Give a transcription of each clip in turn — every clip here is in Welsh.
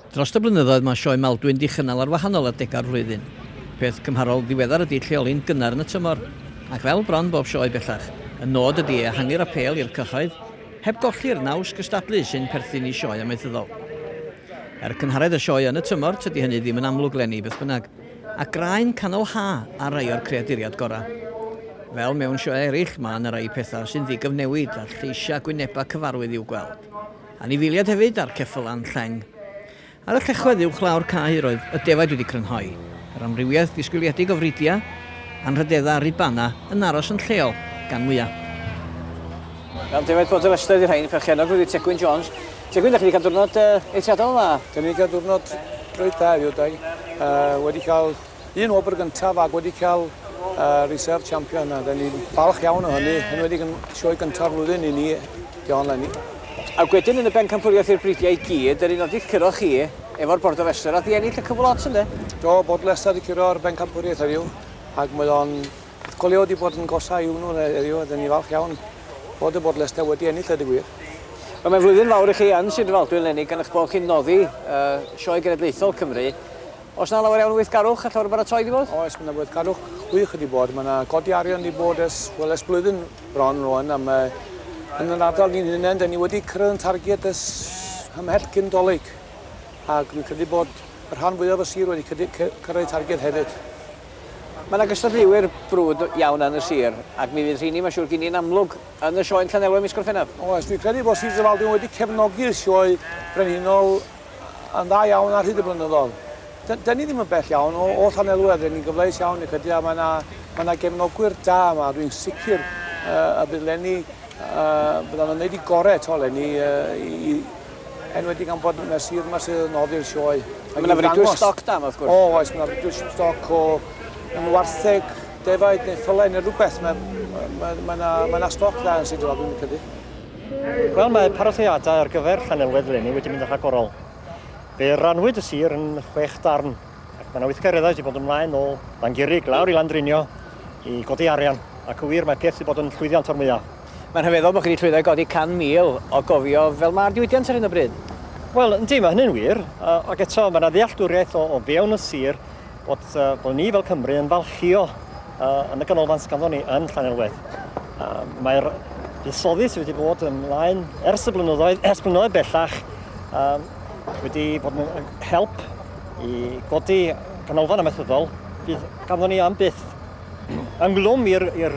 Dros y blynyddoedd mae Sioe Maldwyn 'di chynnal ar wahanol adegau'r flwyddyn. Peth cymharol ddiweddar ydi lleoli'n gynnar yn y tymor. Ac fel bron bob sioe bellach, y nod ydi ehangu'r apêl i'r cyhoedd, heb golli'r naws gystadlu sy'n perthyn i sioe amaethyddol. Er cynharedd y sioe yn y tymor, tydi hynny ddim yn amlwg 'leni beth bynnag. A graen canol ha' ar rai o'r creaduriad gorau. Fel mewn sioeau eraill, mae 'na rai pethau sy'n ddigyfnewid a lleisiau gwynebau cyfarwydd i'w gweld. Anifeiliaid hefyd a'r ceffylan lleng. Ar y llechwedd uwchlaw'r cae roedd y defaid wedi crynhoi, yr amrywiaeth ddisgwyliedig o fridiau, anrhydeddau a rubana yn aros yn lleol gan mwyaf. Gan defaid potel Leicester ydi rhain, perchennog wedi Tegwyn Jones. Tegwyn, da chi wedi cael diwrnod eithriadol dda. Da ni wedi cael diwrnod reit dda heddiw, da ni wedi cael Un wobr gyntaf ac wedi cael uh, Reserve Champion a da ni'n falch iawn o hynny, yn wedi yn sioe gyntaf flwyddyn i ni, John Lenny. Ac wedyn yn y bencampwriaeth i'r bridiau i gyd, yr un oedd i'ch curo chi efo'r Bord o Restr, oedd i ennill y cyflot ynde? Do, Bord Leicester wedi curo'r bencampwriaeth heddiw, ac mae o'n Colio wedi bod yn gosa i hwnnw heddiw, a dyn ni falch iawn bod y bod Leicester wedi ennill y digwyr. Wel, mae'n flwyddyn fawr i chi yn Sir Drefaldwyn, Lenny, gan eich bod chi'n noddi uh, sioe genedlaethol Cymru. Oes 'na lawer iawn o weithgarwch ar llawr y baratoi 'di bod? Oes, mae 'na weithgarwch gwych wedi bod. Mae 'na godi arian wedi bod ers, wel, ers blwyddyn bron rwan, a mae yn yr ardal ni'n hunain, da ni wedi cyrraedd yn targed ys hymhell cyn dolyg. Ac dwi'n credu bod y rhan fwyaf o sir wedi cyrraedd targed hefyd. Mae yna gystadleuwyr brwd iawn yn y sir, ac mi fydd rheini, mae'n siŵr, gyn ni'n amlwg yn y sioe yn Llanelwedd mis Gorffennaf. Oes, dwi'n credu bod Sir Drefaldwyn wedi cefnogi'r sioe brenhinol yn dda iawn ar hyd y blynyddoedd. Dyn, dyn ni ddim yn bell iawn o, o Llanelwedd, rydyn ni'n gyfleus iawn i credu a mae yna, mae yna gefnogwyr da yma, rwy'n sicr uh, y bydd Lenny, uh, byddan nhw'n gwneud i gorau eto Lenny uh, i, i enwedig am bod yna sir yma sydd yn noddi'r sioe. Mae yna fridwyr stoc da yma, wrth gwrs. O, oes, mae yna fridwyr stoc o yn wartheg, defaid neu ffylau neu rhywbeth. Mae yna ma, ma, ma stoc dda yn Sir Drefaldwyn, dwi'n credu. Wel, mae parateiadau ar gyfer Llanelwedd eleni wedi mynd yn rhagorol. Fe rannwyd y sir yn chwech darn, ac mae yna weithgareddau wedi bod ymlaen o Langurig lawr i Landrinio i godi arian, ac y wir mae peth wedi bod yn llwyddiant o'r mwyaf. Mae'n rhyfeddol bod chi wedi llwyddo i godi 100,000 o gofio fel mae'r diwydiant ar hyn o bryd. Wel, yndi, mae hynny'n wir, ac eto mae yna ddealltwriaeth o fewn y sir bod, uh, bod ni fel Cymru yn falchio uh, yn y ganolfan sy'n ganddo ni yn Llanelwedd. Uh, Mae'r buddsoddi sydd wedi bod yn ymlaen ers y blynyddoedd, ers blynyddoedd bellach, uh, wedi bod yn help i godi ganolfan amaethyddol fydd ganddo ni am byth ynglwm i'r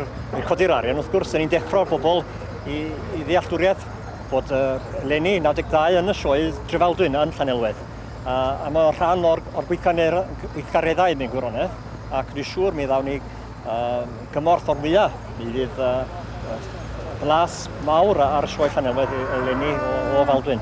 codi'r arian, wrth gwrs, yn ni'n deffro'r bobl i, i ddealltwriaeth bod uh, Lenny 92 yn y sioe Drefaldwyn yn Llanelwedd. A, a mae o'n rhan o'r, or gweithgareddau mewn gwirionedd, ac dwi'n siŵr mi ddawn ni uh, gymorth o'r mwyaf. Mi fydd uh, blas mawr ar y sioe Llanelwedd eleni o, o Faldwyn.